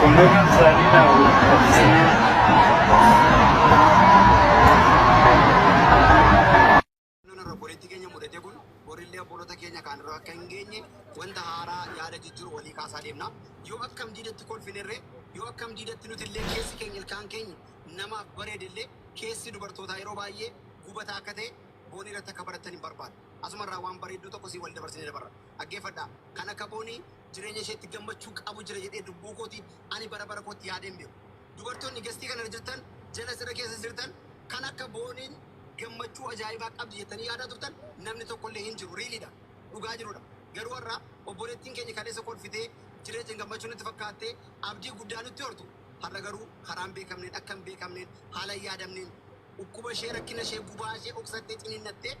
Qulleeyyii isaanii naa waliin Naannoon irra obboleettii keenya mudate kun borillee obboloota keenya kaan irra akka hin geenye wanta haaraa yaada jijjiiru walii kaasaa deemna. Yoo akkam diidatti kolfinerree, yoo akkam diidatti nuti illee keessi keenya ilkaan keenya namaaf bareede illee keessi dubartootaa yeroo baay'ee gubataa akka ta'e boonii irratti akka barattan hin barbaadu. Asumarraa waan bareedduu tokko siin wal dabarsinee dabarra. Dhaggeeffadhaa. Kan akka boonii Jireenya isheetti gammachuu qabu jira jedhee lubbuu kootiin ani bara bara kootti yaadee hin beeku. Dubartoonni gestii kana irra jirtan, jala sirra keessa jirtan kan akka Booniin gammachuu ajaa'ibaa qabdi jettanii yaadaa turtan namni tokko illee hin jiru. Really dha. Dhugaa jiru dha. Garuu har'a obboleettiin keenya kaleessa kolfitee jireenya gammachuu nutti fakkaattee abdii guddaa nutti hortu har'a garuu karaa hin beekamneen, akka hin beekamneen, haala hin yaadamneen dhukkuba ishee, rakkina ishee, gubaa ishee dhoksattee, ciniinnattee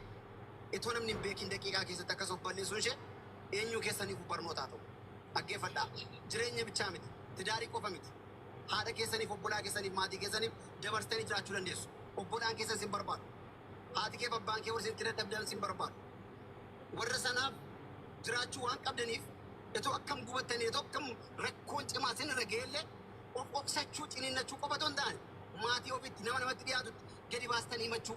itoo namni hin beekiin daqiiqaa keessatti akkas of balleessuun ishee eenyuu keessaniifuu barnoota haa ta'u. Dhaggeeffadhaa. Jireenya bichaa miti. Tidaarii qofa miti. Haadha keessaniif, obbolaa keessaniif, maatii keessaniif dabarsitanii jiraachuu dandeessu. Obbolaan keessan sin barbaadu. Haati keef abbaan kee warri sin itti dadhabdan sin barbaadu. Warra sanaaf jiraachuu waan qabdaniif itoo akkam gubattanii, itoo akkam rakkoon cimaa sin irra ga'ellee of obsachuu, ciniinnachuu qofa otoo hin taane maatii ofiitti, nama namatti dhiyaatutti gadi baastanii himachuu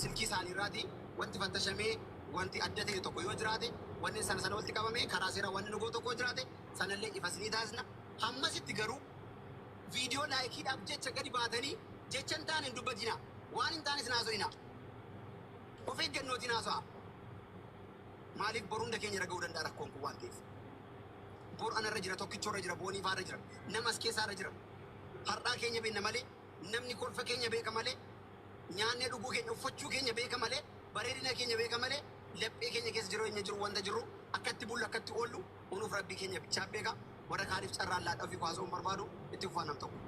silkii isaanii irraati wanti fattashamee wanti adda ta'e tokko yoo jiraate wanni sana sana walitti qabamee karaa seeraa wanni nu gootu tokko jiraate sanallee ifa isinii taasisna. Hammasitti garuu viidiyoo laayikiidhaaf jecha gadi baatanii jecha hin taane hin dubbatinaa. Waan hin taane isin haasofina. Of eeggannootiin haasa'a. Maaliif boru hunda keenya irra ga'uu danda'a rakkoon kun waan ta'eef. Boru anarra jira, tokkichoo irra jira, boonii faarra jira, nama as keessaa irra jira. Har'aa keenya beekna malee Namni kolfa keenya beeka malee, nyaannee dhuguu keenya, uffachuu keenya beeka malee, bareedina keenya beeka malee, laphee keenya keessa jireenya jiru, wanta jirru, akka itti bullu, akka itti oollu, unuuf Rabbii keenya bichaa beeka. Warra kaaniif carraan laadha ofii koo haasa'uun barbaadu itti fufaa nam tokko.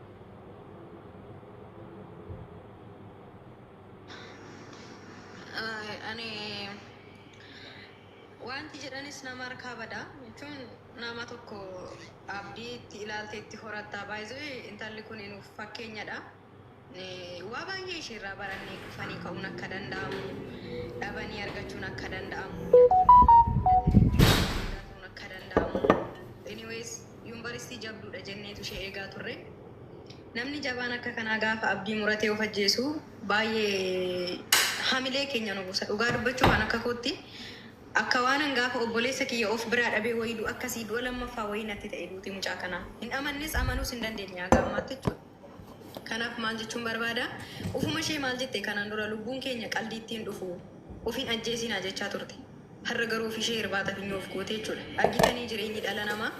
Ani Waanti jedhanis nama harkaa bada. Jechuun nama tokko abdii itti ilaaltee itti horatta. By the way intalli kun nuuf fakkeenyadha. Eh, Waa baay'ee isheerraa barannee kufanii ka'uun akka danda'amu, dhabanii argachuun akka danda'amu, mudatanii wanti mudataniif deebi'anii guddaa ta'uun akka danda'amu. Anyways yuunivarsiitii jabduudha jenneetu ishee eegaa turre. Namni jabaan akka kanaa gaafa abdii muratee of ajjeesu Baay'ee hamilee keenya nu buusa. Dhugaa dubbachuuf an akka kootti akka waanan gaafa obboleessa kiyya of biraa dhabee wayii du'a akkasii du'a lammaffaa wayii natti ta'e duuti mucaa kanaa. Hin amannes amanuus hin dandeenye haga ammaatti jechuudha. Kanaaf maal jechuun barbaada ufuma ishee maal jette kanaan dura lubbuun keenya qaldiitti hin dhufu of hin ajjeesinaa jechaa turte. Har'a garuu ofishee irbaata finyoo of goote jechuudha. Argitanii jireenyi dhala namaa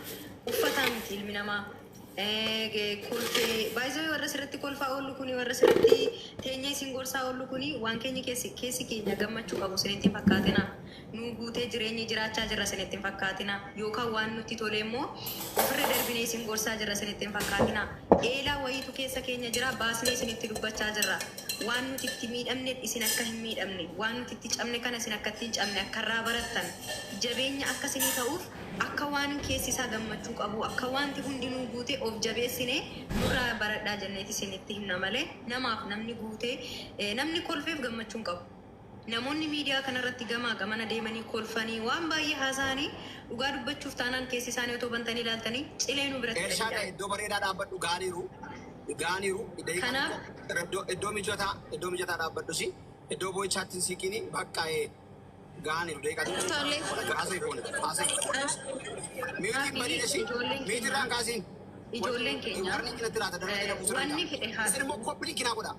uffataa miti ilmi namaa. Eegee kolfee by the way warra sirratti kolfaa oollu kuni warra sirratti teenyee isin gorsaa oollu kuni waan keenya keessi keessi keenya gammachuu qabu isinitti hin fakkaatina nuu guutee jireenyi jiraachaa jirra isinitti hin fakkaatina yookaan waan nutti tolee immoo ofirra darbinee isin gorsaa jirra isinitti hin fakkaatina eelaa wayiitu keessa keenya jira baasnee isinitti dubbachaa jirra waan nuti itti miidhamne isin akka hin miidhamne waan nuti itti cabne kana isin akka ittiin cabne akka irraa barattan jabeenya akka isinii ta'uuf Akka waan keessi isaa gammachuu qabuu, akka waanti hundinuu guutee of jabeessine nurraa baradhaa jenneeti isinitti himna malee namaaf namni guutee, namni kolfeef gammachuu hin qabu. Namoonni miidiyaa kana irratti gamaa gamana deemanii kolfanii waan baay'ee haasa'anii dhugaa dubbachuuf taanaan keessi isaanii otoo bantanii ilaaltanii cilee nu biratti Elshaa dha iddoo bareedaa dhaabbadhu gaaniiru gaaniiru daqiiqaa Kanaaf. tokko iddoo iddoo mijataa iddoo mijataa dhaabbadhu si iddoo boo'ichaatti hin siiqiini baqqaa ee. Gaaniif deeqatu. Tole. Haasee foone. Haasee. Meetiin banii dashii. Meetiin irraan kaasiin. Ijoolleen keenya. Darni cinatti laata darni keenya buusuun. Wanni fedhe haa. Isin immoo koppiliin kinaa godha.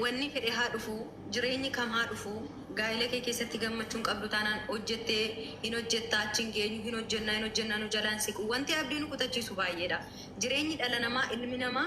Wanni fedhe haa dhufu, jireenyi kam haa dhufu, gaa'ila kee keessatti gammachuun qabdu taanaan hojjettee hin hojjetta, achi hin geenyu, hin hojjennaa, hin hojjennaa nu jalaan siqu. Wanti abdii nu kutachiisu baay'eedha. Jireenyi dhala namaa, ilmi namaa.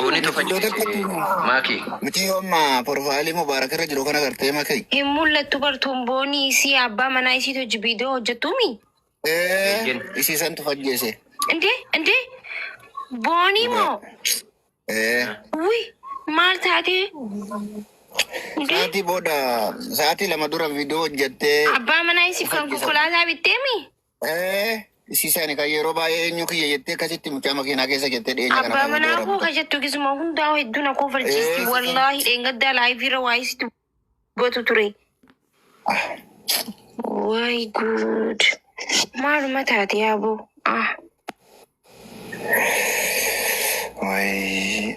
Boni tofa jibisee maakii. Mitii yoo amma porofaalii mubaarak irra jiru kana gartee makee. Hin mul'attu bartuun boonii isii abbaa manaa isiitu hojji viidiyoo hojjettuumi. Eeyyeen. Isii santu fajjeese. Indee indee boonii moo Ee. wi maal taatee indee Sa'aatii booda sa'aatii lama dura viidiyoo hojjettee abbaa manaa isiif kan konkolaataa bitteemi. Ee, Sisaani kan yeroo baay'ee eenyu kiyya jettee akkasitti mucaa makiinaa keessa jettee dhiyeenya kana Abbaa kan manaa hojii koo ka jettu gisuma hundaa hedduu na koofalchiisti. Ee, Wallaahi dheengaddaa laayivii irra waa'ee si dubbatu ture. Ah, Waay guud. Maaluma taate yaaboo? Ah. wayi.